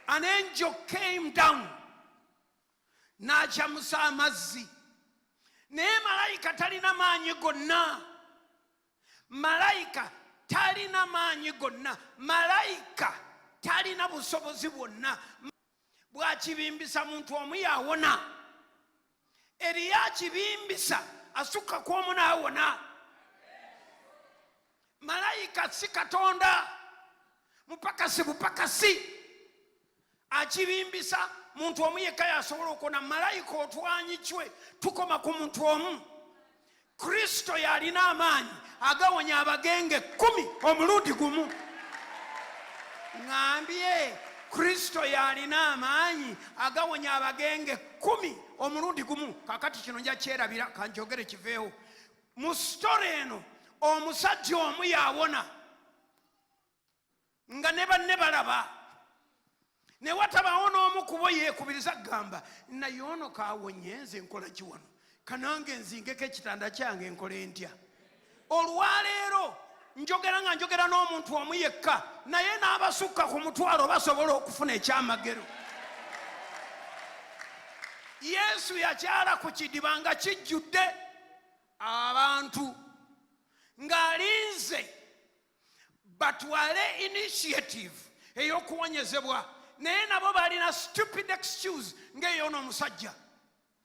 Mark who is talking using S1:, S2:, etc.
S1: An angel came down n'acamusa amazzi naye malayika talina maanyi gonna malayika talina maanyi gonna malayika talina busobozi bwonna bwakibimbisa muntu omu yawona eriyo akibimbisa asukka ku omu naawona malayika si katonda mupakasi bupakasi akibimbisa muntu omu yekka yasobola okona malayika otwanyicwe tukoma ku muntu omu kristo y'alina amaanyi agawonya abagenge kkumi omulundi gumu ŋambye kristo y'alina amaanyi agawonya abagenge kkumi omulundi gumu kakati kino nja kyerabira kanjogere kiveewo mu sitore eno omusajja omu yawona nga ne banne balaba ne watabaawo n'omu kubo yeekubiriza kugamba naye ono kaawonye nze nkola ki wano kanange nzingeko ekitanda kyange nkola entya olwaleero njogera nga njogera n'omuntu omu yekka naye n'abasukka ku mutwalo basobola okufuna ekyamagero yesu yakyala ku kidiba nga kijjudde abantu ng'alinze batwale initiative eyokuwonyezebwa naye nabo balina stupid excuse ngaeyona omusajja